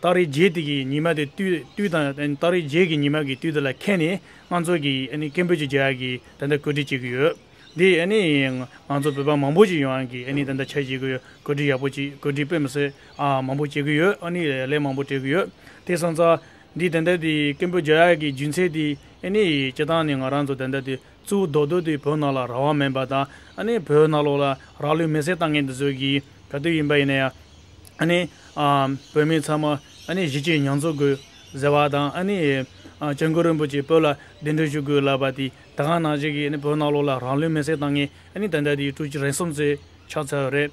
སྟག་རི་རྗེས་དེ་གི་ཉི་མ་དེ་དུས་དང། སྟག་རི་རྗེས་ཀྱི་ཉི་མ་གི་དུས་དེ་ལ་ཁད་ནས་ང་ཚོ་གི་ཀན་པོད་ཀྱི་རྒྱལ་ཡག་གི་ད་ལྟ་གོད་སྒྲིག་བྱེད་ཀྱི་ཡོད། འདི་ང་ཚོ་བོད་པ་མང་པོ་ཞིག་ཡོང་གི་ད་ལྟ་ཆ་བྱེད་ཀྱི་ཡོད་གོད་སྒྲིག་ཡག་པོ་ཅིག་གོད་སྒྲིག་དཔེ་མི་སྲོད་མང་པོ་བྱེད་ཀྱི་ཡོད་ལས་མང་པོ་སྤྲད་ཀྱི་ཡོད། དེ་སོང་ཙང་འདི་ད་ལྟ་དེ་ཀན་པོད་རྒྱལ་ཡག་གི་རྒྱུན་ཚད་དེ་སྤྱི་སྟངས་ནི་ང་རང་ཚོ་ད་ལྟ་དེ་གཙོ་བོ་རྡོ་རྡོ་དེ་བོད་ནང་ལ་རང་དབང་མེད་པ་དང་ཨ་ནི་བོད་ནང་ལོག་ལ་རང་ལུས་མེ་སྲེག་བཏང་མཁན་དེ་ཚོ་གི་ག་དུས་ཡིན་པ་ཡིན་ན་ཡང་ཨ་ནི་བོད་མི་ཚང་མ་ཨ་ནི་གཞིས་བྱེས་མྱང་ཚོར་དགོས་ཟེར་བ་དང་ཨ་ནི ྋསྐྱབས་མགོན་རིན་པོ་ཆེས་བོད་ལ་གདན་འདྲེན་ཞུ་དགོས་ལབ་པ་དེ་ད་གང་ནང་བྱས་ཀྱི་ཨ་ནི་བོད་ནང་ལོག་ལ་རང་ལུས་མེ་སྲེག་བཏང་མཁན་ཨ་ནི་ད་ལྟ་དེའི་ཀྲུའུ་ཇི་རེན་གསུམ་ཚོས་ཕྱག་འཚལ་བ་རེད།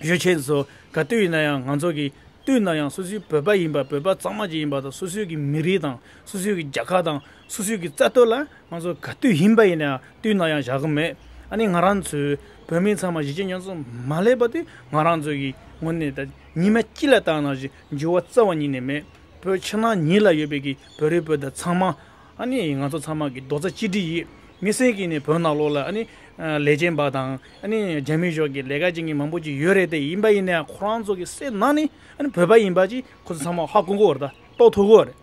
ཡོད་ཁྱེད་ཚོ་ག་དུས་ཡིན་ན་ཡང་ང་ཚོ་གི་དུས་ན་ཡང་སུ་སུའི་བོད་པ་ཡིན་པ་བོད་པ་གཙང་མ་ཞིག་ཡིན་པ་དང་སུ་སུ་གི་མི་རིགས་དང་སུ་སུ་གི་རྒྱ་གར་དང་སུ་སུ་གི་རྩ་གཏོར་ལ་ང་ཚོ་ག་དུས་ཡིན་པ་ཡིན་ན་ཡང་དུས་ན་ཡང་བཞག་གི་མེད་ཨ་ནི་ང་རང་ཚོའི་བོད་མི་ཚང་མ་གཞིས་བྱེས་ཉོན་ཚོ་མ་སླེབས་པ་དེ་ང་རང་ཚོ་གི་ངོ་ནས་ད་ཉི་མ་སྐྱིད་ལ་བཏང་ན་ཞིག་འགྱུར་བ་རྩ་བ་ཉིད་ནས་མེད་བོད་ཕྱི་ནང་གཉིས་ལ་ཡོད་པའི་གི་བོད་རིགས་བོད་དོན་ཚང་མ་ཨ་ནི་ང་ཚོ་ཚང་མ་གི་རྡོ་རྩ་གཅིག་སྒྲིལ་ཡིས་མི་སེར་གྱི་ནི་བོད་ནང་ལོགས་ལ་ཨ་ནི་ལས་ཅན་པ་དང་ཨ་ནི་རྒྱ་མི་ཞོག་གི་ལས་ཀ་ཅན་གྱི་མང་པོ་ཅིག་ཡོད་རེད་དེ་ཡིན་པ་ཡིན་ན་ཡང་ཁོ་རང་ཚོ་གི་སེར་ནང་ནི་ཨ་ནི་བོད་པ་ཡིན་པ་ཅིག་ཁོ་ཚོ་ཚང་མ་ཧ་གོ་གོ་རེད་ད་རྟོགས་ཐུབ་གོ་རེད།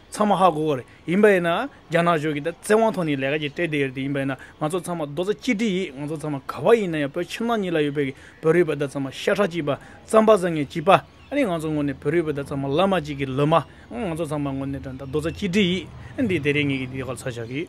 ཚང་མ་ཧ་གོ་གོ་རེད་ཡིན་པ་ཡིན་ན་རྒྱ་ནག་ཞོག་གི་ད་བཙན་དབང་ཐོག་ནི་ལས་ཀ་ཅིག་སྤྲད་བསྡད་ཡོད་རེད་དེ་ཡིན་པ་ཡིན་ན་ང་ཚོ་ཚང་མ་རྡོ་རྩ་གཅིག་སྒྲིལ་ཡིས་ང་ཚོ་ཚང་མ་ག་བ་ཡིན་ན་ཡང་བོད་ཕྱི་ནང་གཉིས་ལ་ཡོད་པའི་བོད་རིགས་པ་ད་ཚང་མ་ཤ་ཁྲག་གཅིག་པ་རྩམ་པ་བཟང་ངན་གཅིག་པ། ཨ་ནི་ང་ཚོ་ངོ་ནས་བོད་རིགས་བོད་དག་ཚང་མ་བླ་མ་གཅིག་གི་ལུས་མ། ང་ཚོ་ཚང་མ་ངོ་ནས་དགྲ་ཟླ་རྡོ་རྩ་གཅིག་སྒྲིལ་ཡིད། འདི་དེ་རེ་ངེས་ཀྱི་འདི་ཡོ་ག་ཚར་བཞག་གི།